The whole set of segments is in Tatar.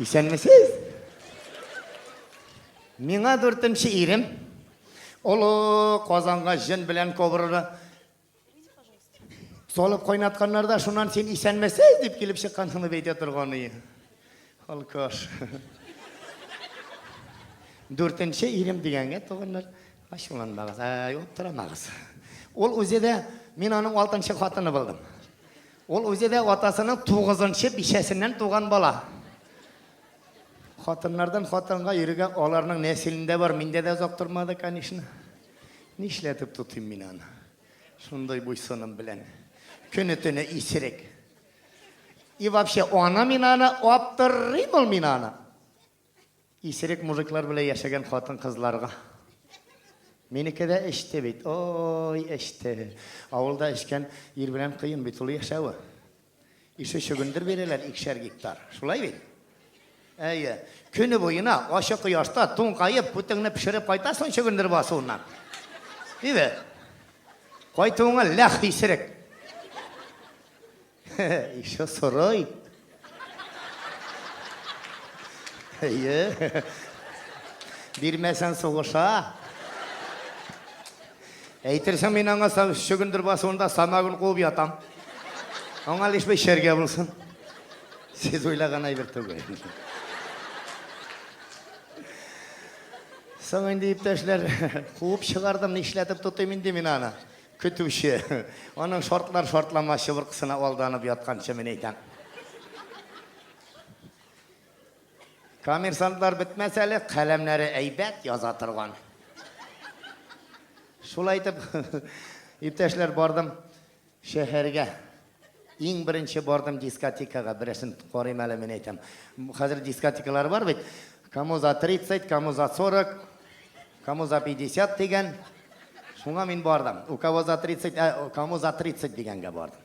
Исәнмесез? Миңа дүртенче ирем. Олы Казанга җен белән кобраны салып кайнатканнарда шуннан син исәнмесез дип килеп чыккансың дип әйтә торган ие. Алкаш. Дүртенче ирем дигәнгә туганнар Ачуланмагыз, ә, аптырамагыз. Ул үзе дә, мин аның алтынчы хатыны булдым. Ул үзе дә атасының тугызынчы бишәсеннән туган бала. Хатыннардан хатынга йөрергә аларның нәселендә бар, миндә дә озак тормады, конечно. Нишләтеп тотыйм мин аны? Шундый буйсыным белән. Көне-төне исерек. И вообще, аны мин аны аптырыйм ул мин аны. Исерек мужиклар белән яшәгән хатын-кызларга. Минеке дә эчте бит. Ой, эчте. Авылда эчкән ир белән кыен бит ул яшәве. Ише чөгендер бирәләр икешәр гектар. Шулай бит? Әйе. Көне буена ачы кояшта туңгаеп, күтеңне пешереп кайтасың чөгендер басуыннан. Дибе? Кайтуыңа ләх исерек. Хе-хе, еще сырой. Әйе. Бирмәсәң сугыша. Әйтерсең мин аңа чөгендер басуында самагын куып ятам. Аңа лишь бер шәргә булсын. Сез уйлаган әйбер түгел. Соң инде иптәшләр, куып чыгардым, нишләтеп тотыйм инде мин аны. Көтүче. Аның шартлар шартлама чыбыркысына алданып ятканчы мин әйтәм. Коммерсантлар бетмәс әле, каләмнәре әйбәт яза торган. Шулай итеп, иптәшләр, бардым шәһәргә. Иң беренче бардым дискотекага, берәрсен карыйм әле мин әйтәм. Хәзер дискотекалар бар бит. Кому за 30, кому за 40, кому за 50 дигән. Шуңа мин бардым. У кого за 30, ә кому за 30 дигәнгә бардым.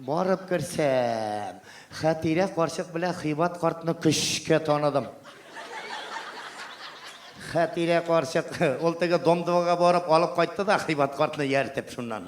Барып керсәм, Хәтирә карчык белән Хибат картны көчкә таныдым. Хәтирә карчык, ул теге домдвага барып алып кайтты да Хибат картны ияртеп шуннан.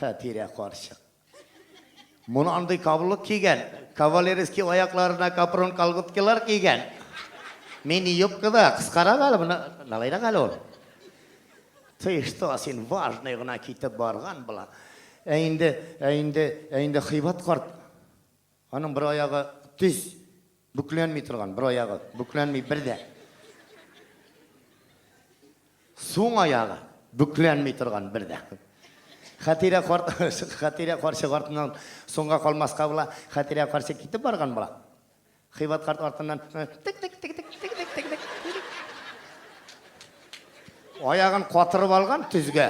Хәтирә карчык. Моны андый каблук кигән, кавалерский аякларына капрон колготкилар кигән. Мини юбка да, кыскарак әле, моны налайрак әле ул. Ты что, син важный гына китеп барган була. Ә инде, ә инде, ә инде Хыйбат карт. Аның бер аягы төз, бүкләнми торган, бер аягы бүкләнми бер дә. Суң аягы бүкләнми торган бер дә. Хәтирә карт, Хәтирә карчык артыннан соңга калмаска була. Хәтирә карчык китеп барган була. Хыйбат карт артыннан тик-тик-тик-тик-тик-тик-тик-тик. Аягын катырып алган төзгә.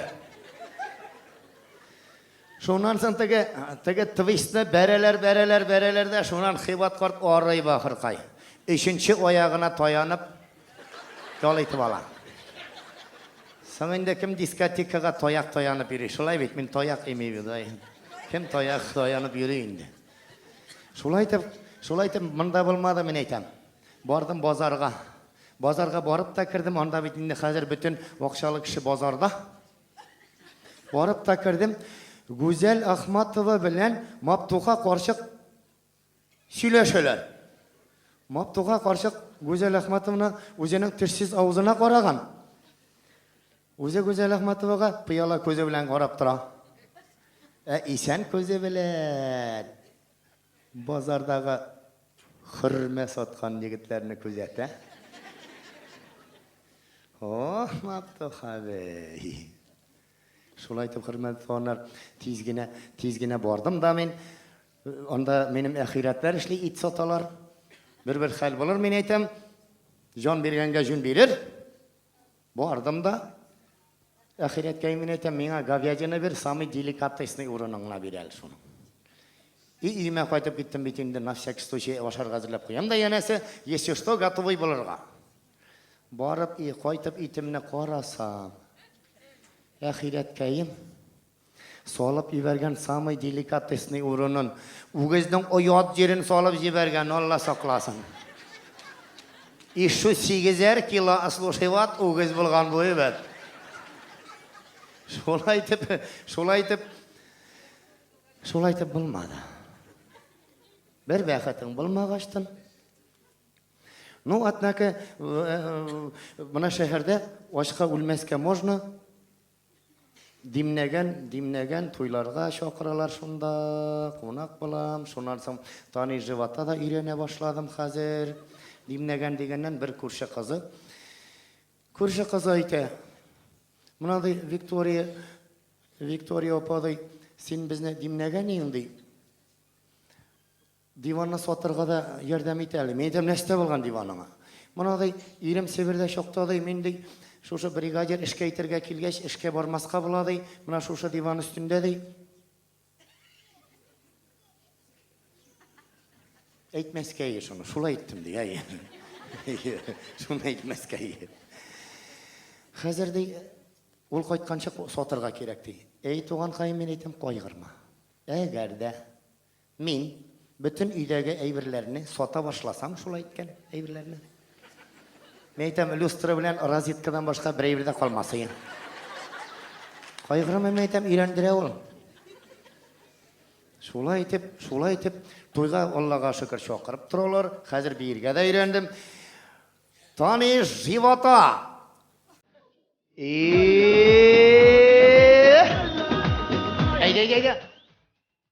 Шуннан соң теге, теге твистны бәрәләр, бәрәләр, бәрәләр дә, шуннан Хибат карт арый бахыркай. Өченче аягына таянып, ял итеп ала. Соң инде кем дискотекага таяк таянып йөри? Шулай бит, мин таяк ими бит, ай. Кем таяк таянып йөри инде? Шулай итеп, шулай итеп монда булмады, мин әйтәм. Бардым базарга. Базарга барып та кердем, анда бит инде хәзер бөтен акчалы кеше базарда. Барып та кердем. Гүзәл Ахматова белән Маптуха карчык сөйләшәләр. Маптуха карчык Гүзәл Ахматованы үзенең тешсез авызына караган. Үзе Гүзәл Ахматовага пыяла күзе белән карап тора. Ә исән күзе белән. Базардагы хөрмә саткан егетләрне күзәтә. Ох, Мактух абый! Шулай итеп, хөрмәтле туганнар, тиз генә, тиз генә бардым да мин. Анда минем әхирәтләр эшли, ит саталар. Бер-бер хәл булыр, мин әйтәм, җан биргәнгә җүн бирер. Бардым да, әхирәткә имин әйтәм, миңа говядина бир, самый деликатесный урынын гына бир әле шуның. И өемә кайтып киттем бит инде, на всякий случай ашарга әзерләп куям да, янәсе, если что, готовый булырга. Барып и кайтып итемне карасам, әхирәткәем, Салып җибәргән самый деликатесный урынын, үгезнең оят җирен салып җибәргән, Алла сакласын. И шу сигезәр кило ослушиват үгез булган бу ибәт. Шулай итеп, шулай итеп, шулай итеп булмады. Бер бәхетең булмагачтын. Ну, атнаке, э, э, мына шәһәрдә ачка үлмәскә можно, Димнәгән, димнәгән, туйларга чакыралар шунда, кунак булам, шуннан соң Тани живота да өйрәнә башладым хәзер. Димнәгән дигәннән бер күрше кызы, күрше кызы әйтә, Менә ди Виктория, Виктория апа ди, син безне димнәгән иең ди. Диванны сатырга да ярдәм ит әле. Мин әйтәм, Нәрсә булган диваныңа? Моны, ди, ирем Себердә чакта, ди, мин, ди, шушы бригадир эшкә итәргә килгәч, эшкә бармаска була, ди, менә шушы диван өстендә, ди. Әйтмәскәе шуны. Шулай әйттем, ди, әйе. Әйе, шуны әйтмәскәе. Хәзер, ди, ул кайтканчы сатырга кирәк, ди. Әй, туганкаем, мин әйтәм, кайгырма. Әгәр дә Мин бөтен өйдәге әйберләрне сата башласам, шул әйткән әйберләрне. Мин әйтәм, люстра белән розеткадан башка бер әйбер дә калмасы. Кайгырма, мин әйтәм, өйләндерә ул. Шулай итеп, шулай итеп, туйга Аллага шөкер чакырып торалар. Хәзер биергә дә өйрәндем. Таныш живота. И! Әйдә, әйдә, әйдә.